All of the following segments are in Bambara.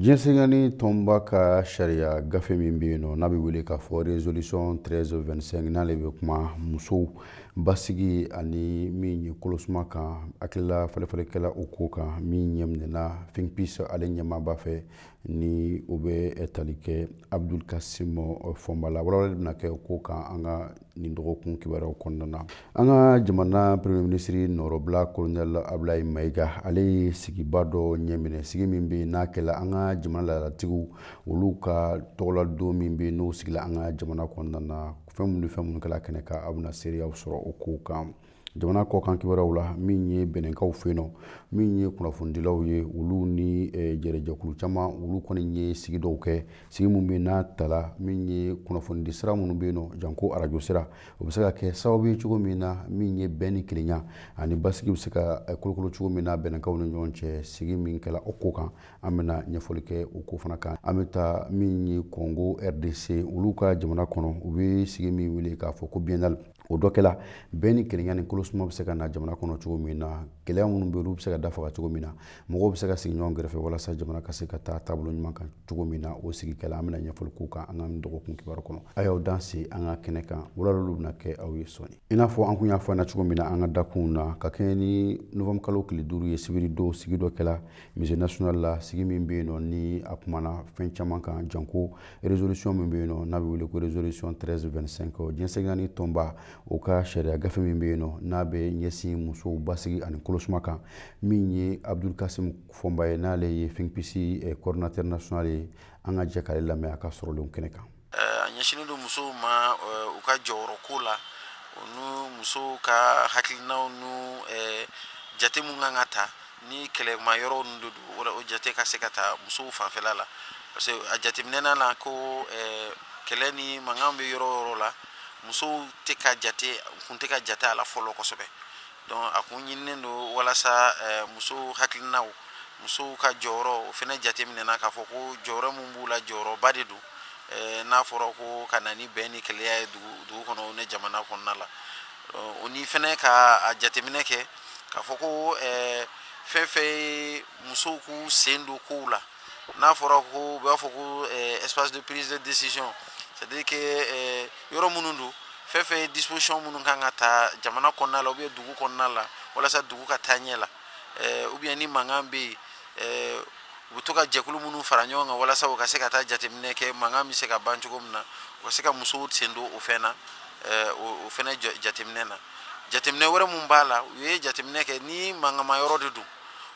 Diɲɛ seleke naani tɔnba ka sariya gafe min bɛ yen nɔ n'a bɛ wele k'a fɔ resolution 1325 n'ale bɛ kuma musow basigi ani min ye kolosuma kan hakilila falenfalen kɛla o ko kan min ɲɛminɛna Think Peace ale ɲɛmaaba fɛ ni o bɛ tali kɛ Abdul Kasim Fɔnba la walawalali bɛna kɛ o ko kan an ka nin dɔgɔkun kibaruyaw kɔnɔna na an ka jamana premier minisiri nɔrɔbila kolonɛl abulayi mayiga ale ye sigiba dɔ ɲɛminɛ sigi min bɛ n'a kɛla an ka jamana laadalatigiw olu ka tɔgɔladon min bɛ n'o sigila an ka jamana kɔnɔna na fɛn minnu ni fɛn minnu kɛla kɛnɛ kan aw bɛna seereyaw sɔrɔ o kow kan jamana kɔkan kibaruyaw la min ye bɛnɛnkaw fɛ yen nɔ min ye kunnafonidilaw ye olu ni eh, jɛrɛjɛkulu caman olu kɔni ye sigi dɔw kɛ sigi min bɛ n'a tala min ye kunnafonidi sira minnu bɛ yen janko arajo sira o bɛ se ka kɛ sababu ye cogo min na min ye bɛn ni kelenya ani basigi bɛ se ka eh, kolokolo cogo min na bɛnɛnkaw ni ɲɔgɔn cɛ sigi min kɛla o ko kan an bɛna ɲɛfɔli kɛ o ko fana kan an bɛ taa min ye kɔngo rdc olu ka jamana kɔnɔ u bɛ sigi min wele k'a fɔ ko biennale o dɔ kɛla bɛn ni kelenya ni kolosuma bɛ se ka na jamana kɔnɔ cogo min na gɛlɛya minnu bɛ olu bɛ se ka dafaga cogo min na mɔgɔw bɛ se ka sigi ɲɔgɔn kɛrɛfɛ walasa jamana ka se ka taa taabolo ɲuman kan cogo min na o sigi kɛla an bɛna ɲɛfɔli k'o kan an ka nin dɔgɔkun kibaru kɔnɔ a y'aw dansɛ an ka kɛnɛ kan walawalaliw bɛna kɛ aw ye sɔni i n'a fɔ an kun y'a fɔ an na cogo min na an ka dakunw na ka kɛɲɛ ni novembre kalo tile duuru ye sibiri don sigi dɔ kɛla musée national la sigi min bɛ yen nɔ ni a kumana fɛn caman kan janko resolution min bɛ yen nɔ n'a bɛ wele ko resolution 1325 diɲɛ seleke naani tɔnba o ka sariya gafe min bɛ yen nɔ n'a bɛ ɲɛsin musow basigi ani kolosuma kan min ye Abdul Kasim Fɔnba ye n'ale ye Think Peace coordinateur national ye an ka jɛ k'ale lamɛn a ka sɔrɔlenw kɛnɛ kan a ɲɛsinnen don musow ma u ka jɔyɔrɔ ko la o ni musow ka hakilinaw ni jate minnu kan ka ta ni kɛlɛma yɔrɔ ninnu don o jate ka se ka ta musow fanfɛla la parce que a jateminɛna la ko kɛlɛ ni mankan bɛ yɔrɔ yɔrɔ la musow tɛ ka jate kun tɛ ka jate a la fɔlɔ kosɛbɛ donc a kun ɲininen don walasa musow hakilinaw musow ka jɔyɔrɔ o fɛnɛ jateminɛna k'a fɔ ko jɔyɔrɔ min b'u la jɔyɔrɔba de don n'a fɔra ko ka na ni bɛn ni kelenya ye dugu kɔnɔ o ni jamana kɔnɔna la o ni fɛnɛ k'a jateminɛ kɛ k'a fɔ ko ɛɛ fɛn fɛn ye musow k'u sen don kow la n'a fɔra ko u b'a fɔ ko ɛɛ espace de prise de décision c'est à dire que ɛɛ yɔrɔ minnu don fɛn fɛn ye disposition minnu kan ka ta jamana kɔnɔna la ou bien dugu kɔnɔna la walasa dugu ka taa ɲɛ la ɛɛ ou bien ni mankan bɛ yen ɛɛ u bɛ to ka jɛkulu minnu fara ɲɔgɔn kan walasa u ka se ka taa jateminɛ kɛ mankan bɛ se ka ban cogo min na u ka se ka musow sen don o fɛn na o fɛnɛ jateminɛ na jateminɛ wɛrɛ min b'a la u ye jateminɛ kɛ ni mankanma yɔrɔ de don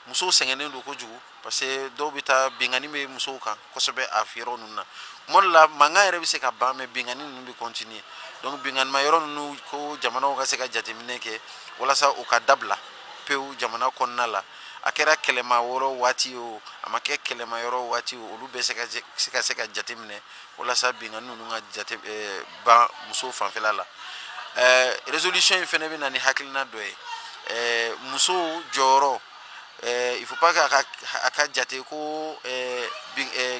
musow sɛgɛnnen don kojugu parce que dɔw bɛ taa binkanni bɛ musow kan kosɛbɛ a yɔrɔ ninnu na tuma dɔ la mankan yɛrɛ bɛ se ka ban mais binkanni ninnu bɛ continuer donc binkannima yɔrɔ ninnu ko jamanaw ka se ka jateminɛ kɛ walasa u ka dabila pewu jamana kɔnɔna la a kɛra kɛlɛma yɔrɔ waati o a ma kɛ kɛlɛma yɔrɔ waati o olu bɛ se ka se ka jateminɛ walasa binkanni ninnu ka jate ban muso fanfɛla la résolution in fɛnɛ bɛ na ni hakilina dɔ ye muso jɔyɔrɔ il faut pas k'a a ka jate ko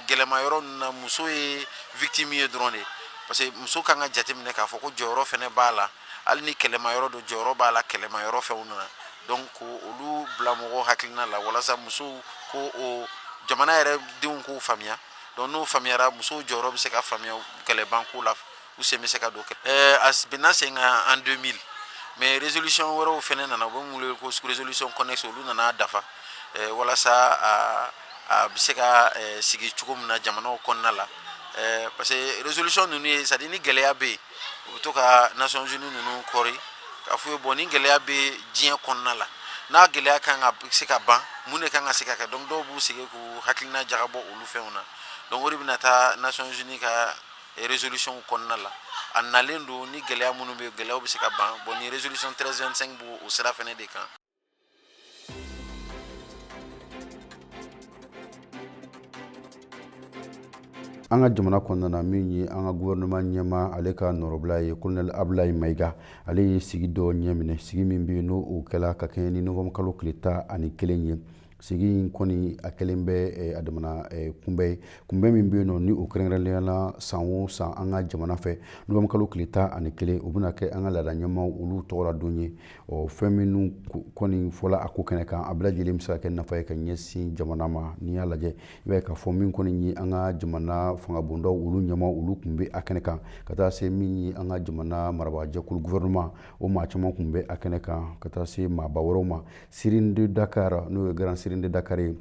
gɛlɛma yɔrɔ ninnu na muso ye victime ye dɔrɔn de parce que muso kan ka jateminɛ k'a fɔ ko jɔyɔrɔ fɛnɛ b'a la hali ni kɛlɛma yɔrɔ don jɔyɔrɔ b'a la kɛlɛma yɔrɔ fɛnw na donc ko olu bila mɔgɔw hakilina la walasa musow ko o jamana yɛrɛ denw k'o faamuya donc n'o faamuyara musow jɔyɔrɔ bɛ se ka faamuya kɛlɛbanko la u sen bɛ se ka don kɛ ɛɛ a bɛnna sen kan en 2000 mais résolution wɛrɛw fɛnɛ nana u bɛ min wele ko résolution connexe olu nana a dafa ɛɛ walasa a a bɛ se ka sigi cogo min na jamanaw kɔnɔna la ɛɛ parce que résolution ninnu ye c'est à dire ni gɛlɛya bɛ yen u bɛ to ka nations unies ninnu kɔri k'a f'u ye bon ni gɛlɛya bɛ diɲɛ kɔnɔna la n'a gɛlɛya kan ka se ka ban mun de kan ka se ka kɛ donc dɔw b'u sigi k'u hakilina jagabɔ olu fɛnw na donc o de bɛna taa nations unies ka résolution kɔnɔna la a nalen don ni gɛlɛya minnu bɛ yen gɛlɛyaw bɛ se ka ban bon ni résolution 1325 b'o o sira fɛnɛ de kan an ka jamana kɔnɔna na min ye an ka gouvernement ɲɛmaa ale ka nɔrɔbila ye colonel abulayi mayiga ale ye sigi dɔ ɲɛminɛ sigi min bɛ yen n'o kɛla ka kɛɲɛ ni novembre kalo tile tan ani kelen ye sigi in kɔni a kɛlen bɛ eh, a damana eh, kunbɛn ye kunbɛn min bɛ yen nɔ ni o kɛrɛnkɛrɛnnenyala san o san an ka jamana fɛ novembre kalo tile tan ani kelen o bɛna kɛ an ka laada ɲɛmaw olu tɔgɔ la don ye ɔ fɛn minnu kɔni fɔla a ko kɛnɛ kan a bɛɛ lajɛlen bɛ se ka kɛ nafa ye ka ɲɛsin jamana ma n'i y'a lajɛ i b'a ye k'a fɔ min kɔni ye an ka jamana fangabondaw olu ɲɛmaw olu tun bɛ a kɛnɛ kan ka taa se min ye an ka jamana marabaajɛkulu gouvernement o maa caman tun bɛ a kɛnɛ kan ka taa se maaba wɛrɛw ma Serigne de Dakar n'o ye Grand Serigne de Dakar ye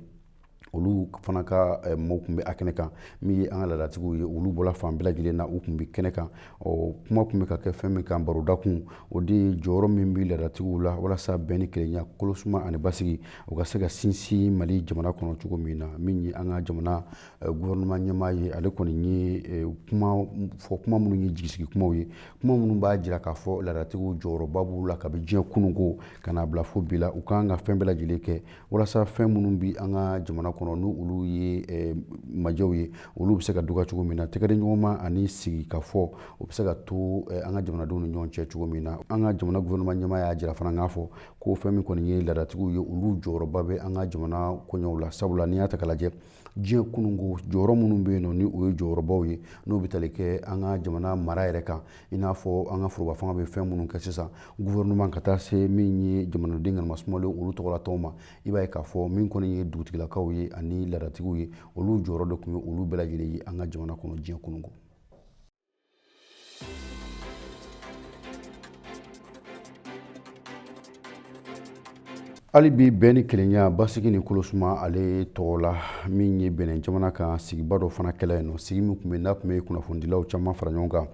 olu fana ka eh, mɔgɔw tun bɛ a kɛnɛ kan min ye an ka laadatigiw ye olu bɔra fan bɛɛ lajɛlen na u tun bɛ kɛnɛ kan ɔ kuma tun bɛ ka kɛ fɛn min kan barodakun o de ye jɔyɔrɔ min bɛ laadatigiw la walasa bɛn ni kelenya kolosuma ani basigi o ka se ka sinsin mali jamana kɔnɔ cogo min na min ye an ka jamana gouvernement ɲɛmaa ye ale kɔni ye kuma fɔ kuma minnu ye jigisigi kumaw ye kuma minnu b'a jira k'a fɔ laadatigiw jɔyɔrɔba b'u la kabi diɲɛ kununko ka n'a bila fo bi la u kan ka fɛn bɛɛ lajɛlen kɛ walasa fɛn minnu bi an ka jamana kɔnɔ ni olu ye majɛw ye olu bɛ se ka dɔgɔya cogo min na tɛgɛdi ɲɔgɔnma ani sigi ka fɔ o bɛ se ka to an ka jamanadenw ni ɲɔgɔn cɛ cogo min na an ka jamana gouvernement ɲɛmaa y'a jira fana k'a fɔ ko fɛn min kɔni ye laadatigiw ye olu jɔyɔrɔba bɛ an ka jamana koɲɛw la sabula n'i y'a ta k'a lajɛ diɲɛ kununko jɔyɔrɔ minnu bɛ yen nɔ ni o ye jɔyɔrɔbaw ye n'o bɛ tali kɛ an ka jamana mara yɛrɛ kan i n'a fɔ an ka foroba fanga bɛ fɛn minnu kɛ sisan gouvernement ka taa se min ye jamanaden ŋanama sumalen olu tɔgɔlatɔw ma i b'a ye k'a fɔ min kɔni ye dugutigilakaw ye ani laadatigiw ye olu jɔyɔrɔ de tun ye olu bɛɛ lajɛlen ye an ka jamana kɔnɔ diɲɛ kununko hali bi bɛn ni kelenya basigi ni kolosuma ale tɔgɔ la min ye bɛnɛ jamana kan sigiba dɔ fana kɛla yen nɔ sigi min tun bɛ n'a tun bɛ kunnafonidilaw caman fara ɲɔgɔn kan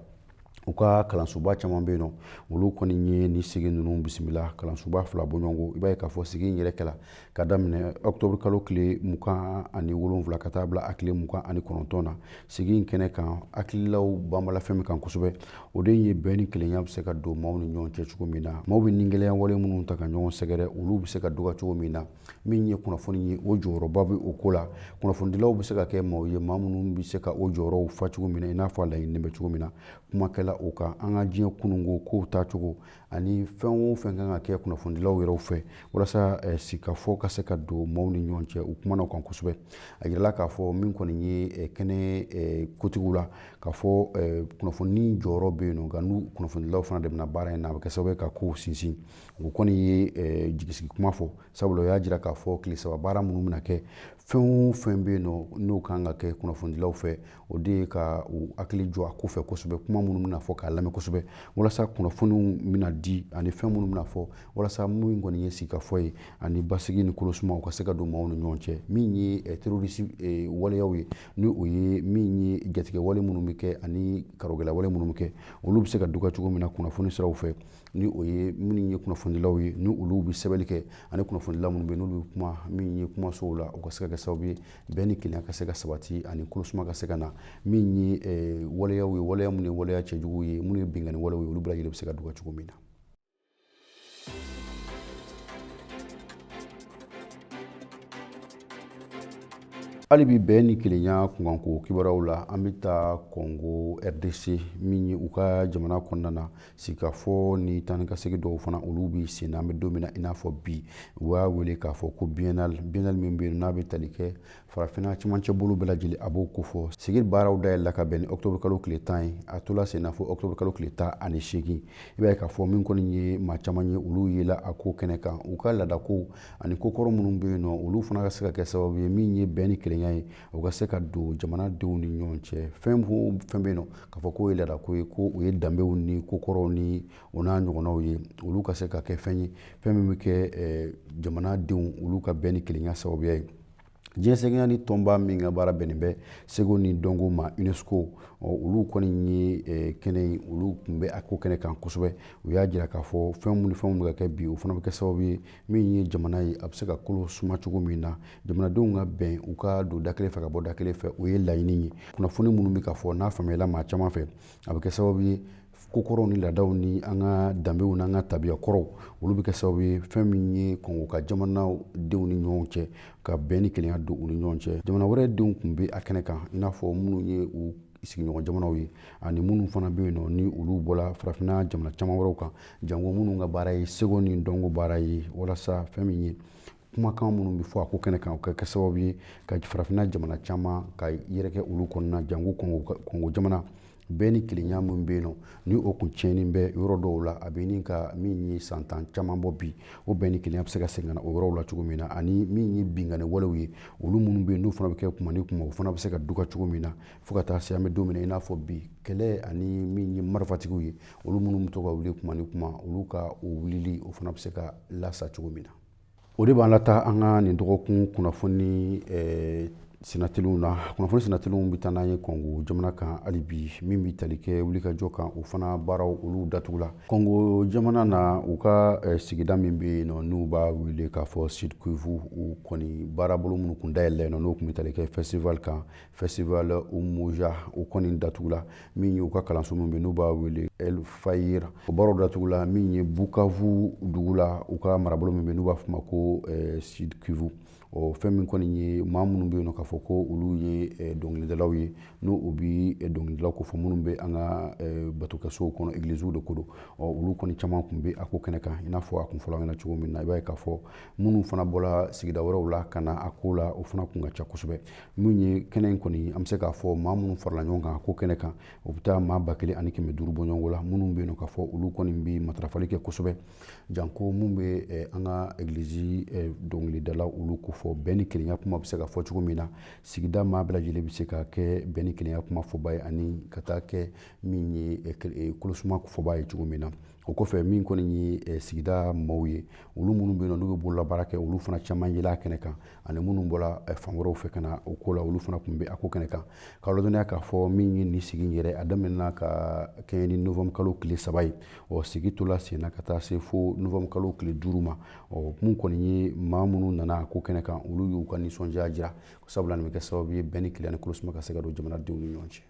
u ka kalansoba caman bɛ yen nɔ olu kɔni ye nin sigi ninnu bisimila kalansoba fila bɔɲɔgɔnko i b'a ye k'a fɔ sigi in yɛrɛ kɛla ka daminɛ octobre kalo tile mugan ani wolonwula ka taa bila a tile mugan ani kɔnɔntɔn na sigi in kɛnɛ kan hakililaw banbala fɛn min kan kosɛbɛ o de ye bɛn ni kelenya bɛ se ka don maaw ni ɲɔgɔn cɛ cogo min na maaw bɛ nigɛlɛya wale minnu ta ka ɲɔgɔn sɛgɛrɛ olu bɛ se ka dɔgɔya cogo min na min ye kunnafoni ye o jɔyɔrɔba bɛ o ko la kunnafonidilaw bɛ se ka kɛ maaw ye maa minnu bɛ se ka o jɔyɔrɔw fa cogo min na i n'a fɔ a laɲininen bɛ cogo min na kuma kɛla o kan an ka diɲɛ kununko kow taacogo ani fɛn o fɛn kan ka kɛ kunnafonidilaw yɛrɛ fɛ walasa eh, sigikafɔ ka se ka don maaw ni ɲɔgɔn cɛ u kumana o kan kosɛbɛ a yirala k'a fɔ min kɔni ye eh, kɛnɛ eh, kotigiw la k'a fɔ kunnafoni jɔyɔrɔ bɛ yen nɔ nka ni kunnafonidilaw fana dɛmɛna baara in na a bɛ kɛ sababu ye ka kow sinsin o kɔni ye jigisigi kuma fɔ sabula o y'a jira k'a fɔ tile saba baara minnu bɛna kɛ fɛn o fɛn bɛ yen nɔ n'o kan ka kɛ kunnafonidilaw fɛ o de ye ka u hakili jɔ a ko fɛ kosɛbɛ kuma minnu bɛna fɔ k'a lamɛn kosɛbɛ walasa kunnafoniw bɛna di ani fɛn minnu bɛna fɔ walasa min kɔni ye sigikafɔ ye ani basigi ni kolosuma u ka se ka don maaw ni ɲɔgɔn cɛ min ye eh, terorisi eh, waleyaw ye ni o ye min ye jatigɛ wale minnu bɛ kɛ ani karogɛla wale minnu bɛ kɛ olu bɛ se ka dɔgɔya cogo min na kunnafoni siraw fɛ ni o ye minnu ye kunnafonidilaw ye ni olu bɛ sɛbɛnni kɛ ani kunnafonidila minnu bɛ yen n'olu bɛ kuma min ye kumasow la u ka se ka kɛ sababu ye bɛn ni kelenya ka se ka sabati ani kolosuma ka se ka na min ye eh, waleyaw ye waleya minnu ye waleya cɛjuguw ye minnu ye binkanni waleyaw ye olu bɛɛ lajɛlen bɛ se ka dɔgɔya cogo min na hali bi bɛn ni kelenya kunkanko kibaruyaw la an bɛ taa kɔngo rdc min ye u ka jamana kɔnɔna na sigikafɔ ni taa ni ka segin dɔw fana olu bɛ sen na an bɛ don min na i n'a fɔ bi u y'a wele k'a fɔ ko biennale biennale min bɛ yen n'a bɛ tali kɛ farafinna cɛmancɛ bolo bɛɛ lajɛlen a b'o ko fɔ sigi baaraw dayɛlɛla ka bɛn ni octobre kalo tile tan ye a tola sen na fo octobre kalo tile tan ani seegin i b'a ye k'a fɔ min kɔni ye maa caman ye olu yela a ko kɛnɛ kan u ka laadakow ani ko kɔrɔ minnu bɛ yen nɔ olu fana ka se ka kɛ sababu ye min ye bɛn ni kelenya ye o ka se ka don jamanadenw ni ɲɔgɔn cɛ fɛn o fɛn bɛ yen nɔ k'a fɔ k'o ye laada ko ye ko o ye danbew ni ko kɔrɔw ni o n'a ɲɔgɔnnaw ye olu ka se ka kɛ fɛn ye fɛn min bɛ kɛ eh, jamanadenw olu ka bɛn ni kelenya sababuya ye diɲɛ seleke naani tɔnba min ka baara bɛnnen bɛ seko ni dɔnko ma unesco olu kɔni ye eh, kɛnɛ ye olu tun bɛ a ko kɛnɛ kan kosɛbɛ u y'a jira k'a fɔ fɛn minnu fɛnw bɛ ka kɛ bi o fana bɛ kɛ sababu ye min ye jamana ye a bɛ se ka kolo suma cogo min na jamanadenw ka bɛn u ka don da kelen fɛ ka bɔ da kelen fɛ o ye laɲini ye kunnafoni minnu bɛ ka fɔ n'a faamuyala maa caman fɛ a bɛ kɛ sababu ye ko kɔrɔw ni laadaw ni an ka danbew n'an ka tabiya kɔrɔw olu bɛ kɛ sababu ye fɛn min ye kɔngo ka jamanadenw ni ɲɔgɔn cɛ ka bɛn ni kelenya don u ni ɲɔgɔn cɛ jamana wɛrɛ denw tun bɛ a kɛnɛ kan i n'a fɔ minnu ye u sigiɲɔgɔn jamanaw ye ani minnu fana bɛ yen nɔ ni olu bɔra farafinna jamana caman wɛrɛw kan jango minnu ka baara ye seko ni dɔnko baara ye walasa fɛn min ye kumakan minnu bɛ fɔ a ko kɛnɛ kan o ka kɛ sababu ye ka farafinna jamana caman ka yɛrɛkɛ olu kɔnɔna jango kɔngo jamana bɛn ni kelenya min bɛ yen nɔ ni o kun tiɲɛnen bɛ yɔrɔ dɔw la a bɛ ɲini ka min ye san tan caman bɔ bi o bɛn ni kelenya bɛ se ka segin ka na o yɔrɔw la cogo min na ani min ye binkanni walew ye olu minnu bɛ yen n'u fana bɛ kɛ kuma ni kuma o fana bɛ se ka duka cogo min na fo ka taa se an bɛ don min na i n'a fɔ bi kɛlɛ ani min ye marifatigiw ye olu minnu bɛ to ka wuli kuma ni kuma olu ka o wulili o fana bɛ se ka lasa cogo min na o de b'an lataa an ka nin dɔgɔkun kunnafoni eh, Senatw na kunnafoni sinaeliliw bɛ taa n'an ye kɔngo jamana kan hali bi min bɛ tali kɛ wulikajɔ kan o fana baaraw olu datugula kɔngo jamana na u ka eh, sigida min bɛ yen nɔ n'u b'a wele k'a fɔ sud kivu u kɔni baarabolo minnu kun dayɛlɛ yen nɔ n'o tun bɛ tali kɛ festival kan festival umoja o kɔni datugula min ye u ka kalanso min bɛ yen n'u b'a wele alfajiri o baaraw datugula min ye bukavu dugu la u ka marabolo min bɛ yen n'u b'a fɔ o ma ko eh, sud kivu ɔ fɛn min kɔni ye maa minnu bɛ yen nɔ k'a fɔ ko olu ye eh, dɔnkilidalaw ye n'o u bi eh, dɔnkilidalaw ko fɔ minnu bɛ an ka eh, batokɛsow kɔnɔ egiliziw de ko don ɔ olu kɔni caman tun bɛ a ko kɛnɛ kan i n'a fɔ a kun fɔla ɲɛ na cogo min na i b'a ye k'a fɔ minnu fana bɔra sigida wɛrɛw la ka na a ko la o fana kun ka ca kosɛbɛ min ye kɛnɛ in kɔni an bɛ se k'a fɔ maa minnu farala ɲɔgɔn kan a ko kɛnɛ kan o bɛ taa maa ba kelen ani kɛmɛ duuru bɔ ɲɔgɔn la minnu bɛ yen nɔ k'a fɔ olu kɔni bɛ matarafali kɛ kosɛbɛ janko mun bɛ eh, an ka egilizi eh, dɔnkilidalaw olu ko fɔ bɛn ni kelenya kuma bɛ se ka fɔ cogo min na sigida maa bɛɛ lajɛlen bɛ se ka kɛ bɛn ni kelenya kuma fɔba ye ani ka taa kɛ min ye eh, kolosuma fɔba ye cogo min na o kɔfɛ min kɔni ye eh, sigida maaw ye olu minnu bɛ yen nɔ n'u bɛ bololabaara kɛ olu fana caman yela a kɛnɛ kan ani minnu bɔra eh, fan wɛrɛw fɛ ka na o ko la olu fana kun bɛ a ko kɛnɛ kan k'a ladɔnniya k'a fɔ min ye nin sigi in yɛrɛ a daminɛna ka kɛɲɛ ni novembre kalo tile saba ye ɔ sigi tola senna ka taa se fo novembre kalo tile duuru ma ɔ mun kɔni ye maa minnu nana ko kɛnɛ kan olu y'u ka nisɔndiya jira sabula nin bɛ kɛ sababu ye bɛn ni kelenya ni kolosuma ka se ka don jamanadenw ni ɲɔgɔn cɛ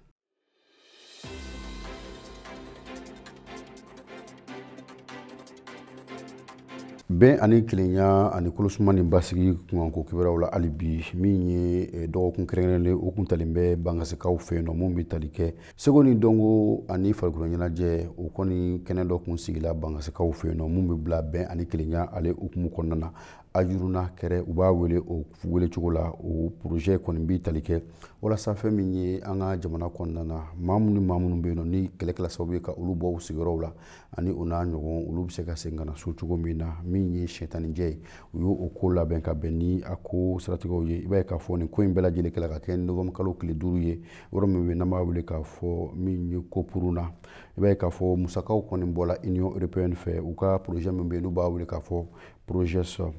bɛn ani kelenya ani kolosuma ni basigi kunkanko kibaruyaw la hali bi min ye eh, dɔgɔkun kɛrɛnkɛrɛnnen o kun talen bɛ bangasikaw fɛ yen nɔ mun bɛ tali kɛ seko ni dɔnko ani farikolo ɲɛnajɛ o kɔni kɛnɛ dɔ kun sigila bangasikaw fɛ yen nɔ mun bɛ bila bɛn ani kelenya ale hukumu kɔnɔna na ajuruna kɛrɛ u b'a wele o wele cogo la o projet kɔni bɛ tali kɛ walasa fɛn min ye an ka jamana kɔnɔna na maa minnu ni maa minnu bɛ yen nɔ ni kɛlɛ kɛla sababu ye ka olu bɔ u sigiyɔrɔw la ani o n'a ɲɔgɔn olu bɛ se ka segin ka na so cogo min na min ye sɛtanijɛ ye u y'o o ko labɛn ka bɛn ni a ko siratigɛw ye i b'a ye k'a fɔ nin ko in bɛɛ lajɛlen kɛla ka kɛ novembre kalo tile duuru ye yɔrɔ min bɛ n'an b'a wele k'a fɔ min ye kopuruna i b'a ye k'a fɔ musakaw kɔni bɔla union européenne fɛ u ka projet min bɛ yen n'u b'a wele k'a fɔ projet sɔrɔ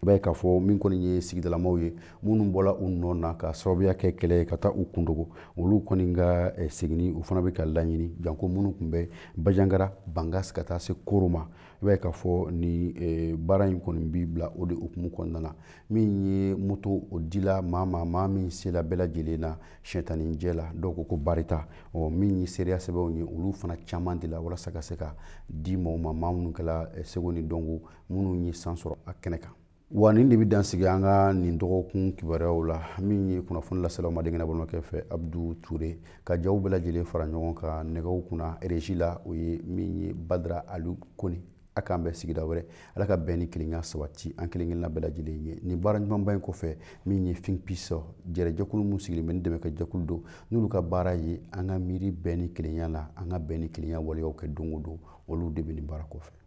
i b'a ye k'a fɔ min kɔni ye sigidalamaaw ye minnu bɔla u nɔ na ka sababuya kɛ kɛlɛ ye ka taa u kundogo olu kɔni ka eh, seginni u fana bɛ ka laɲini janko minnu kun bɛ bajangara bangasi ka taa se koro ma i b'a ye k'a fɔ ni eh, baara in kɔni bɛ bila o de hukumu kɔnɔna na min ye moto o dila maa ma maa min sela bɛɛ lajɛlen na sɛtanijɛ la dɔw ko ko barita ɔ min ye seereya sɛbɛnw ye olu fana caman dila walasa ka se ka di mɔgɔ ma maa minnu kɛla eh, seko ni dɔnko minnu ye san sɔrɔ a kɛnɛ kan wa nin de bɛ dansigi an ka nin dɔgɔkun kibaruyaw la min ye kunnafoni lasela aw ma denkɛ balimakɛ fɛ abudu ture ka jaw bɛɛ lajɛlen fara ɲɔgɔn kan nɛgɛw kunna régie la o ye min ye badara ali kone a k'an bɛn sigida wɛrɛ ala ka bɛn ni kelenya sabati an kelenkelenna bɛɛ lajɛlen ye nin baara ɲumanba in kɔfɛ min ye think peace jɛrɛ jɛkulu min sigilen bɛ ni dɛmɛ kɛ jɛkulu don n'olu ka baara ye an ka miiri bɛn ni kelenya la an ka bɛn ni kelenya waleyaw kɛ don o don olu de bɛ nin baara kɔfɛ